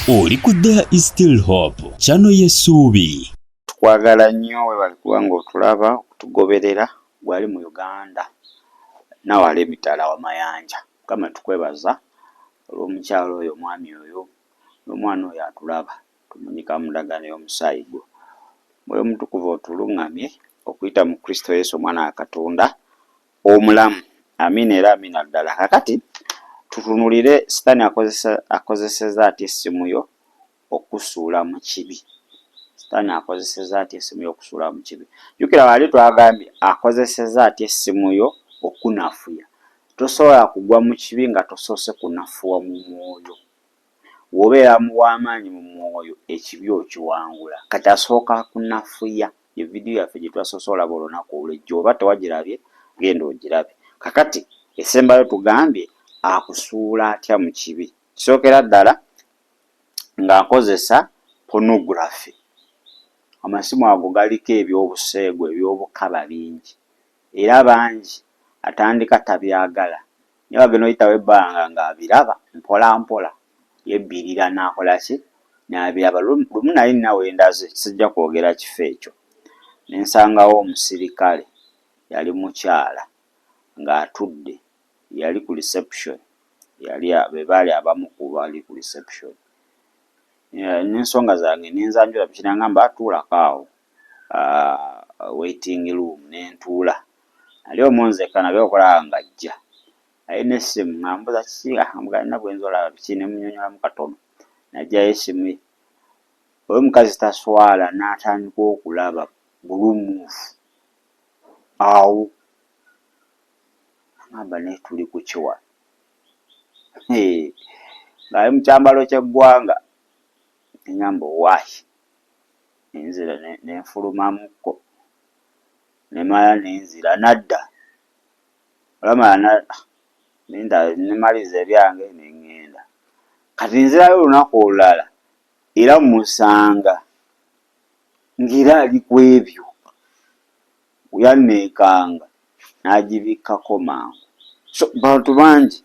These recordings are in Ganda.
oli ku there is still hope kyano yesuubi tukwagala nnyo webali kuba nga otulaba okutugoberera gwali mu uganda nawala emitala wa mayanja mukama tukwebaza olwomukyalo oyo omwami oyo nomwana oyo atulaba tumunyika mudagano yomusaayi gwo mwoyo omutukuvu otulungamye okuyita mu kristo yesu omwana wa katonda omulamu. Amiina era amiina ddala. Kakati tutunulire sitani akozeseza atya essimu yo okusuula mu kibi. Sitani akozeseza atya essimu yo okusuula mu kibi. Jukira wali twagambye akozeseza atya essimu yo okunafuya. Tosobola kugwa mu kibi nga tosoose kunafuwa mu mwoyo. Wobeera mu wamaanyi mu mwoyo ekibi okiwangula. Kati asooka kunafuya. Ye video yaffe gyetwasoose olaba olunaku olwe jjo oba tewagirabye genda ogirabe. Kakati esembayo tugambye akusuula atya mu kibi. Kisookera ddala nga akozesa pornography. Amasimu ago galiko ebyobuseegu ebyobukaba bingi era bangi atandika tabyagala Naye wagenda oyitawo ebbanga nga abiraba mpola mpola yebbirira nakola ki nabiraba lumu naye nina wendaze sijja kwogera kifo ekyo nensangawo omusirikale yali mukyala nga atudde yali ku reception yali bebaali abamu kubali ku reception nensonga zange nenzanjula mukinangamba tuulako awo waiting room nentuula. Ali omu nzekka nabye okulaba nga ajja naye n'essimu ng'ambuuza kiki ng'ambuga nina gwe nze olaba biki ne munyonnyolamu katono n'aggyayo essimu ye. Oyo omukazi taswala n'atandika okulaba bulung'ufu awo ng'amba naye tuli ku ki wano ng'ali mu kyambalo ky'eggwanga ne ng'amba owaaye ne nzira ne nfulumamuko. Nemala nenzira nadda olaba nemaliza ebyange nengenda kati nenzirayo olunaku olulala era musanga nga era ali kwebyo yanekanga nagibikkako mangu so bantu bangi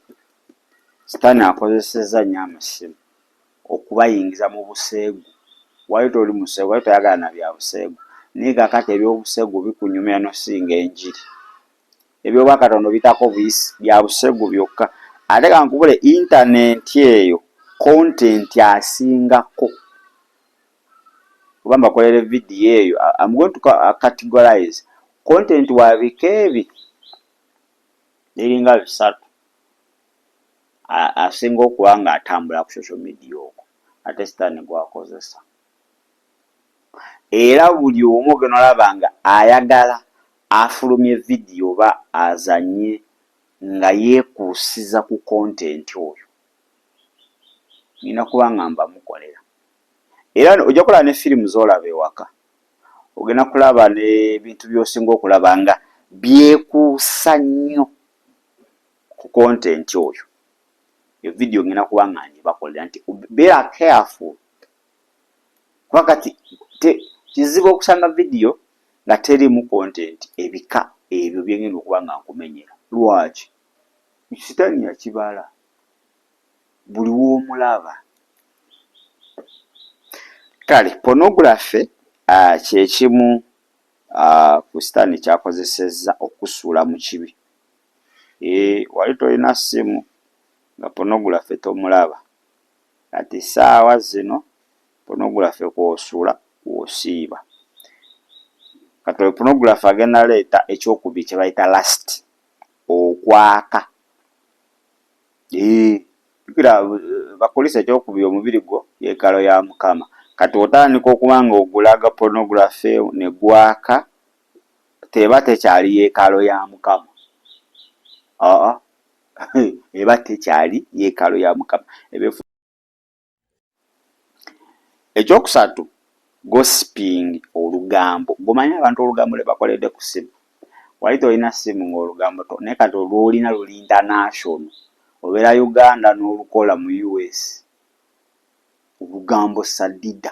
sitani akozeseza nyo amasimu. okubayingiza mu buseegu wali toli museegu wali toyagala na bya buseegu naye kakati ebyobuseegu bikunyumira nosinga enjiri ebyobwakatonda obitako buyisi bya buseegu byokka ate kankubule intanenti eyo kontenti asingako oba mbakolere vidiyo eyo am going to categorize kontenti wabika ebi biringa bisatu asinga okuba nga atambula ku social media okwo ate sitaani gwakozesa era buli omu gena olaba nga ayagala afulumye vidiyo oba azanye nga yekuusiza ku kontenti oyo nina kuba nga mbamukolera era ojja kulaba ne firimu zolaba ewaka ogenda kulaba nebintu byosinga okulaba nga byekuusa nnyo ku content oyo yo video ngena kuba nga njibakolera nti beera careful kuba kati te kizibu okusanga video nga terimu content ebika ebyo byengenda okuba nga nkumenyera lwaki sitani yakibala buli womulaba kale pornography uh, kyekimu uh, ku sitani kyakozesezza okusuula mu kibi Eeh wali tolina simu nga pornography tomulaba kati saawa zino pornography kwosula kwosiiba kati oyo pornography agenda leeta ekyokubiri kyebayita last okwaka eeh jukira bakulisa ekyokubiri omubiri gwo yekalo ya mukama kati otandika okuba nga ogulaga pornography negwaka teba tekyali yeekalo ya mukama aa eba tekyali yeekalo ya mukama ebefu ekyokusatu gossiping olugambo gomanyi abantu olugambo lwebakoledde ku simu wali tolina simu ngaolugambo to naye kati olwolina luli international obeera uganda n'olukola mu us olugambo sadida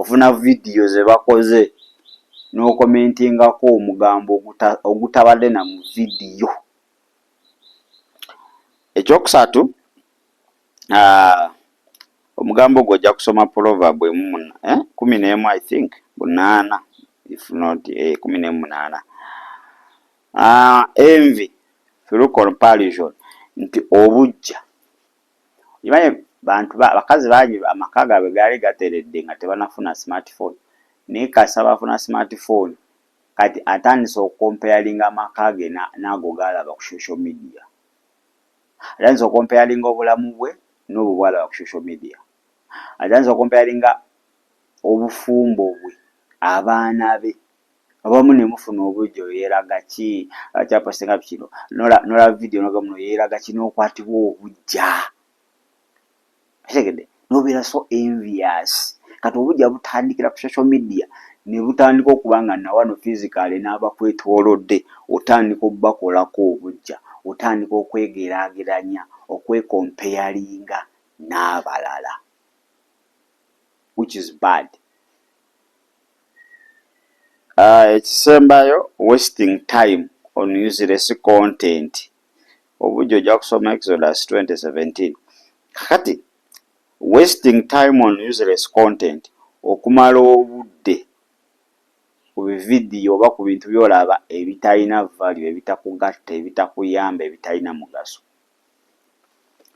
ofuna vidiyo ze bakoze n'okomentingako omugambo ogutabadde na mu vidiyo. Ekyokusatu, omugambo ogwo ojja kusoma Proverb emu eh, kumi n'emu I think munaana if not eh, kumi n'emu munaana envy through comparison nti obujja Okimanyi bantu abakazi bangi amaka gaabwe gaali gateredde nga tebanafuna smart phone naye kasita bafuna smart phone kati atandise okukompeyalinga amaka ge naago gaalaba ku social media. Atandise okukompeyalinga obulamu bwe n'obwo bwalaba ku social media. Atandise okukompeyalinga obufumbo bwe, abaana be Abamu nemufuna obujja oyo yelaga ki kyapa senga bikino nola nola video noga muno yelaga ki nokwatibwa obujja kitegede nobera so envious kati obujja butandikira ku social media nebutandika okuba nga nawano physically nabakwetolodde otandika obakolako obujja otandika okwegerageranya okwekompeyalinga nabalala which is bad. Ah, ekisembayo wasting time on useless content obujja ojja kusoma exodus 2017 kati wasting time on useless content okumala obudde ku bividiyo oba ku bintu byolaba ebitalina value ebitakugatta ebitakuyamba ebitalina mugaso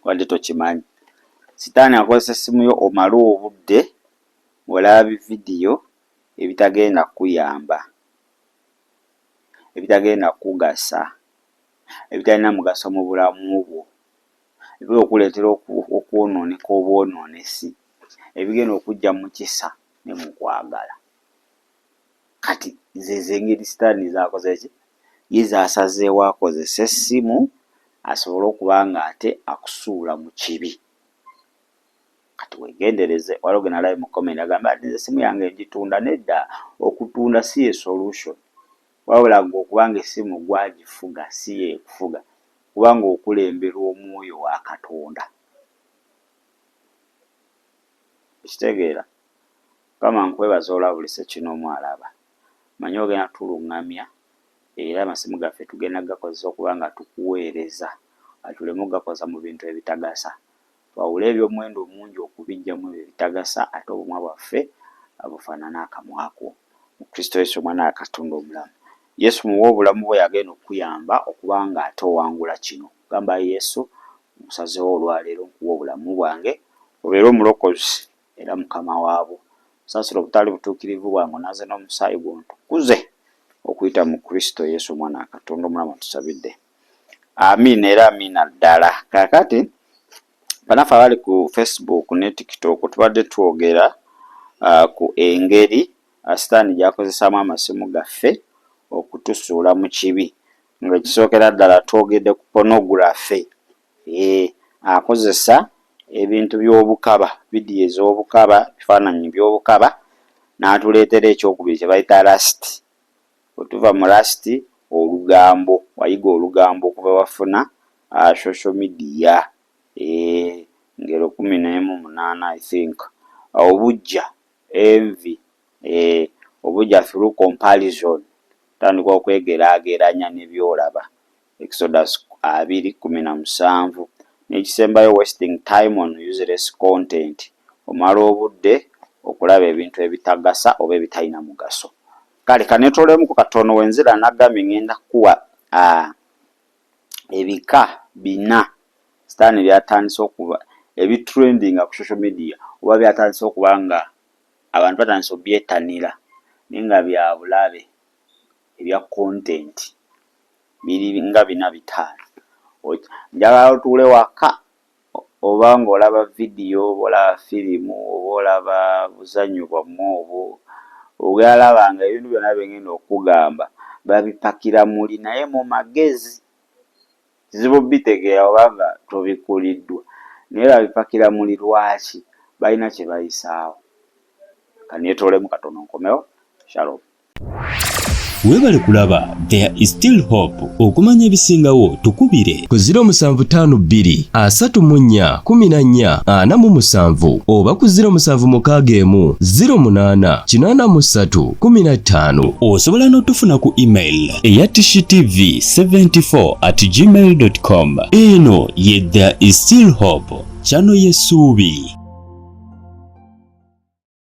wadde tokimanyi sitaani akozesa essimu yo omale obudde ng'olaba bividiyo ebitagenda kukuyamba, ebitagenda kukugasa, ebitalina mugaso mu bulamu bwo, ebigenda okukuleetera okwonooneka obwonoonesi, ebigenda okuggya mu kisa ne mu kwagala. Kati zeezo engeri sitaani z'akoze ki? Ye z'asazeewo akozese essimu asobole okuba ng'ate akusuula mu kibi. Kati wegendereze waliwo genalabye mu comment agamba nti nze simu yange njitunda nedda okutunda si ye solution wabula gwe okuba nga esimu gwe agifuga si ye ekufuga kuba nga okulemberwa omwoyo wa katonda okitegeera mukama nkwebaza olabulise kino omu alaba manyi ogenda tulungamya era amasimu gaffe tugenda gakozesa okuba nga tukuweereza tuleme ogakoza mu bintu ebitagasa Twawule ebyomuwendo omungi okubijja mwebyo ebitagasa ate obumwa bwaffe bufanane akamwa ko. Mu Kristo Yesu omwana wa Katonda omulamu. Yesu muwe obulamu bwo yagenda okukuyamba okuba nga ate owangula kino. Gamba Yesu nkusazewo olwaleero nkuwa obulamu bwange obeere omulokozi era mukama wabwo. Nsasira obutali butukirivu bwange onaze nomusaayi gwo ntukuze okuyita mu Kristo Yesu omwana wa Katonda omulamu atusabidde. Amiina era amiina ddala. Kaakati banaffe abali ku Facebook ne TikTok tubadde twogera uh, ku engeri ah, sitaani gyakozesaamu amasimu gaffe okutusuula mu kibi nga ekisookera ddala twogedde ku pornography e, akozesa ebintu by'obukaba vidiyo ez'obukaba bifaananyi by'obukaba n'atuleetera ekyokubiri kye bayita lasiti Bwetuva mu last olugambo wayiga olugambo okuva wafuna social media eeh ngero kumi nemu munana I think obujja envi eeh obujja through comparison otandika okwegerageranya nebyolaba Exodus abiri kkumi na musanvu N'ekisembayo wasting time on useless content omala obudde okulaba ebintu ebitagasa oba ebitalina mugaso Kale kanetolemuko katono wenze era nagambye ngenda kukuwa uh, ebika bina sitaani byatandise okuba ebitrendinga ku social media oba byatandise okuba nga abantu batandise obyetanira naye nga byabulabe ebya content biri nga bina bitaano njagala otuule waka oba ng'olaba vidiyo oba olaba firimu oba olaba buzannyo bwammwe obwo ogenda laba nga ebintu byonna bye ngenda okugamba babipakira muli naye mu magezi kizibu bitegeera oba nga tobikuliddwa naye babipakira muli lwaki balina kye bayisaawo kaneetoolemu katono nkomewo shalom webale kulaba there is still hope okumanya ebisingawo tukubire ku 0752 asatu mu nnya kumi na nnya ana mu musanvu oba ku 07 mukaaga emu 08 kinaana mu ssatu kumi na ttaano osobola n'otufuna ku email eya tv 74 at gmail com eno ye there is still hope kyano yesuubi